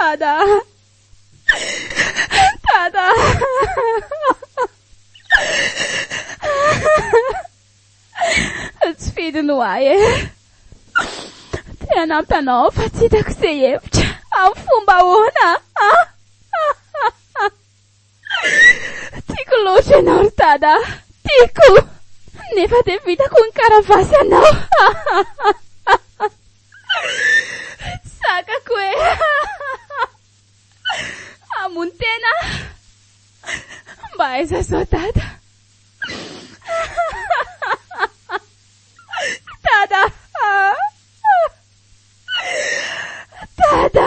Dada Dada Tsy fidiny ho ahy e Te hanampy anao fa tsy hitako izay hevitra Amin'ny fomba ahoana Tiako loatra ianao ry Dada a! Tiako! Nefa dia vitako ny karavasy anao! Tsy sakako e! Hamono tena aho! Mba aiza izao Dada? Dada a! Dada!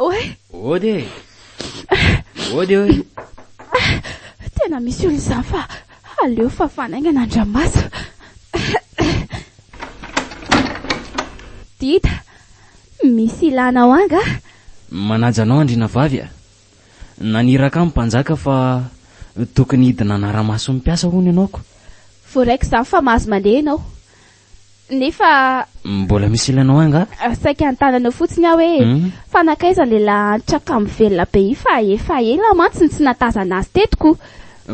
Oe. Ody e. Ody oe. Tena misy olona izany fa aleo fa fanaingana andramasa. Dida, misy ilana ao anga? Manaja anao andriana vavy a. Naniraka ny mpanjaka fa tokony hidina hanara-maso ny mpiasa hono ianao ko. Voaraiko izany fa mahazo mandeha ianao. nefa. Mbola misy ilanao angaha? Saika antananao fotsiny aho hoe, fa nankaiza ilay lahantra kamo velona be io fa efa ela mantsy no tsy nahatazana azy teto ko.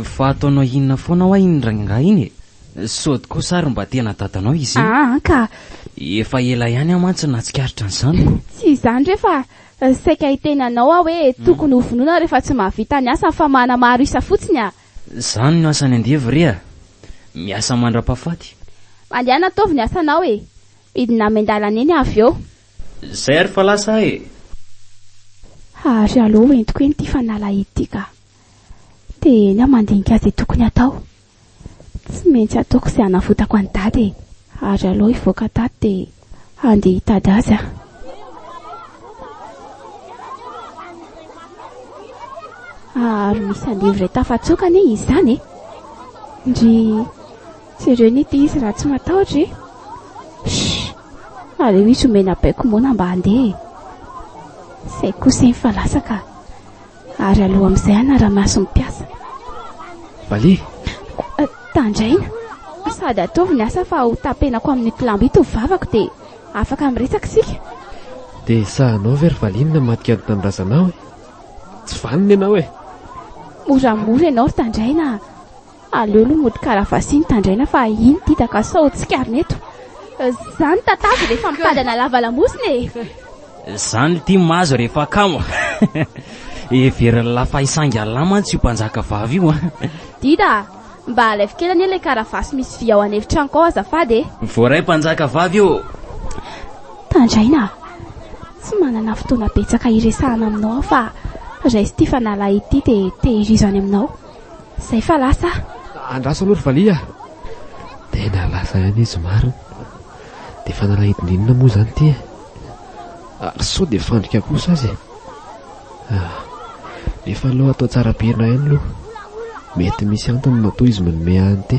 Fa ataonao inona foana hoa iny rangahy iny e? Sôdy kosa ary mba tena dadanao izy iny? Aa ka! Efa ela ihany aho mantsy no nahatsikaritra an'izany ko. Tsy izany re fa saika hiteny anao aho hoe tokony ho vonoina rehefa tsy mahavita ny asany fa manamaro isa fotsiny aa! Zany no asany andevo re a! Miasa mandrapafaty. Mandiana ataovy ny asanao e! Midina amin-dalana eny avy eo. Zay ary fa lasa aho e! Ha ry alou ho entiko eny ity fanalahidy ity ka! Te eny aho mandinika ze tokony atao. Tsy maintsy ataoko ze hanavotako an'i dada e! Ha ry alou hivoaka tato dia handeha hitady azy aho. Ary misy andevo iray tafatsoka anie izy izany e. Ndry jereo ny ity izy raha tsy matahotra e. Shh! Aleo izy omena baiko moana mba handeha e. Izay kosa iny fa lasa ka. Ary aloha amin'izay hanara-maso ny mpiasa. Vale. Tandraina. Sady ataovy ny asa fa ho tapenako amin'ito lamba ito ny vavako dia afaka miresaka isika. Dia sahanao ve ry Vale ny namadika ny tanindrazanao e? Tsy vanona ianao e! Moramora ianao ry Tandraina a! Aleo lo mody karavasy no tandraina fa iny dida ka sao tsikarina eto. Zany tatavy rehefa mitadana lava lamosina e! Zany lty mazo rehefa kamo. Heverin'i Lafaisaingalahy mantsy io mpanjaka vavy io a! Dida a! Mba alaivo kely anie ilay karavasy misy vy ao an'efitranoko ao azafady e! Voaray mpanjaka vavy ô! Tandraina a! Tsy manana fotoana betsaka hiresahana aminao aho fa raiso ity fanalahy ity dia tehirizo any aminao. Zay fa lasa ah. Andraso aloha ry valiha ah. Tena lasa ihany izy marina. Dia fanalahidin'inona moa izany ity eh? Ary sao dia fandrika kosa azy eh? Ah, efa aloha atao tsara pirina ihany aloha. Mety misy antony matoa izy manome an'ity.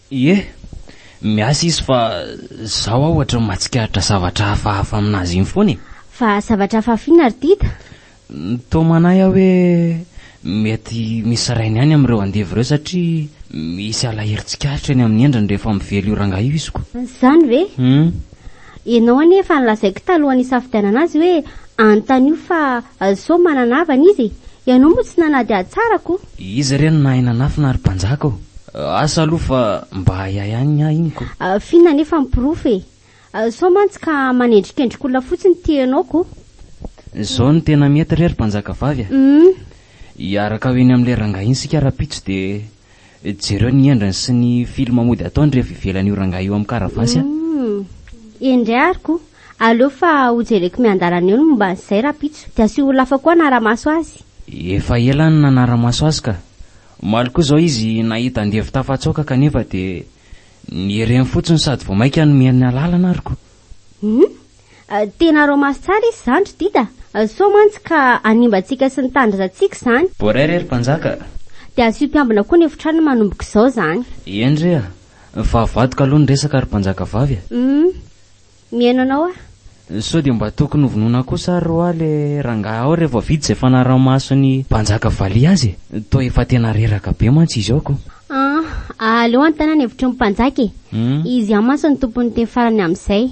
Ie, miasa izy fa zaho aho ohatry ny mahatsikaritra zavatra hafahafa aminazy iny foana e! Fa zavatra hafahafa inona ry Dida? Toa manahy aho hoe mety misy rainy ihany amin'ireo andevo ireo satria misy alahelo tsikaritra eny amin'ny endriny rehefa mively io rangahy io iziko. Izany ve? Humm. Ianao anie efa nolazaiko talohan'ny hisafidianana azy hoe anontanio fa sao manana havana izy e! Ianao moa tsy nanady hatsarako! Iza re no nahay nanafina ry mpanjaka ô? Asa aloha fa mba ahiahy ihany ny ahy iny ko! Finina anefa ny porofo e! Sao mantsy ka manendrikendrik'olona fotsiny ity ianao ko! Izao no tena mety re ry mpanjakavavy a! Hum! Hiaraka ho eny amin'ilay rangahy iny isika rahampitso dia. Jereo ny endriny sy ny film mody ataony rehefa ivelany io rangahy io am karavasy a. Humm. Eny ndray ary ko. Aleo fa ho jereko miandalana eo ny momba an'izay rahampitso. Dia asio olona hafa koa hanara-maso azy. Efa ela aho no nanara-maso azy ka. Omaly koa izao izy nahita andevo tafatsoaka kanefa dia nihereny fotsiny sady vao maika nomeny ny alalana ary ko. Humm. Tena romance tsara izy zany ry Dida a! Sao mantsy ka hanimba antsika sy ny tanindrazantsika izany. Boray re ry mpanjaka a! Dia asio mpiambina koa ny efitrano ny manomboka izao izany. Eny re a! Fa avadika aloha ny resaka ry mpanjaka vavy a! Hum! Mihaino anao aho. Sao dia mba tokony hovonoina kosa ary ho'a le rangahy ao rehefa vita izay fanaraha-maso ny mpanjaka valiha azy e! Toa efa tena reraka be mantsy izy ao ko! An! Aleo hanontaniana hevitry ny mpanjaka e! Izy ihany mantsy no tompon'ny teny farany amin'izay.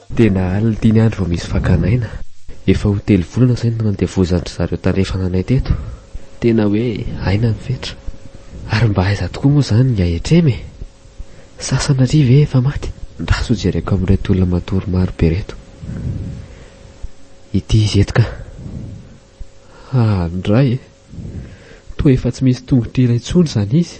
Tena alina dimy andro vao misy fakana aina. Efa ho telo volana izay no nandevozan-dry zareo tandrefana anay teto. Tena hoe aina ny fetra. Ary mba aiza tokoa moa izany ny ahitrem e? Sasana ary ve efa maty? Ndra sao jereko amin'ireto olona matory maro be ireto ity izy eto ka. Haa ndray e! Toa efa tsy misy tongotra iray intsony izany izy.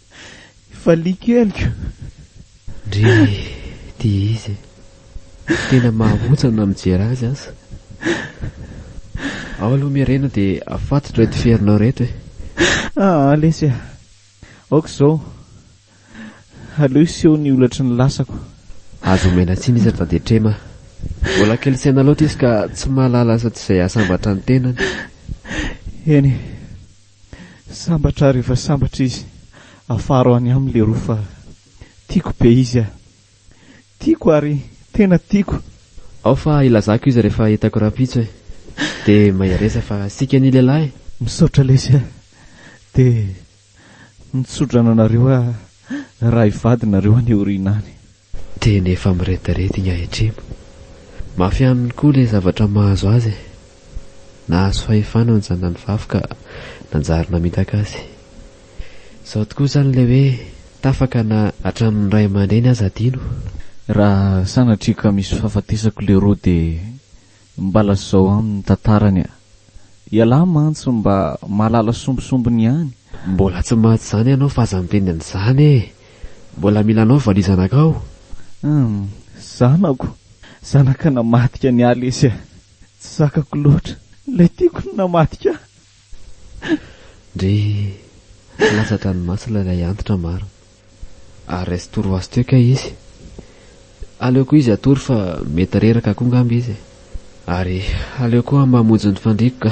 Valiako heloka. Ndry ty izy e. Tena mahahotsana mijery azy aza. Ao aloha Merena dia afatotra reto ferinao reto e. Aa lesy a. Aoka izao. Aleo hiseho ny holatry ny lasako. Aza omena tsiny izy fa dia trema. Mbola kely saina loatra izy ka tsy mahalala asa tsy izay hahasambatra ny tenany. Eny. Sambatra ary efa sambatra izy. Afaro any aminy leroa fa tiako be izy ah. Tiako ary tena tiako. Ao fa ilazako izy rehefa hitako rahampitso e. Dia mahereza fa sika ny lehilahy e. Misaotra lesy ah. Dia mitsodrano anareo ah raha hivady nareo any aoriana any. Tena efa mirediredy igny ahitrimo. Mafy aminy koa le zavatra mahazo azy e. Nahazo fahefana ny zanany vavy ka nanjary namitaka azy. Zao tokoa zany le hoe tafaka na hatramin'ny ray aman-dreny aza adino. Raha sanatria ka misy fahafatesako leroa dia Mba lazao aminy tantarany a! Ialahy mantsy mba mahalala sombisombiny ihany. Mbola tsy maty izany ianao fa aza miteny an'izany e! Mbola mila anao valizanakao. Hum, zanako! Zanaka namadika an'i Aly lesy a! Tsy zakako loatra! Ilay tiako no namadika ahy! Ndry! Tsy latsa-dranomasina ilay antitra marina. Ary resy tory ho azy teo kay izy. Aleoko izy hatory fa mety reraka koa ngamba izy e. Ary aleo koa mba hamonjy ny fandriako ka.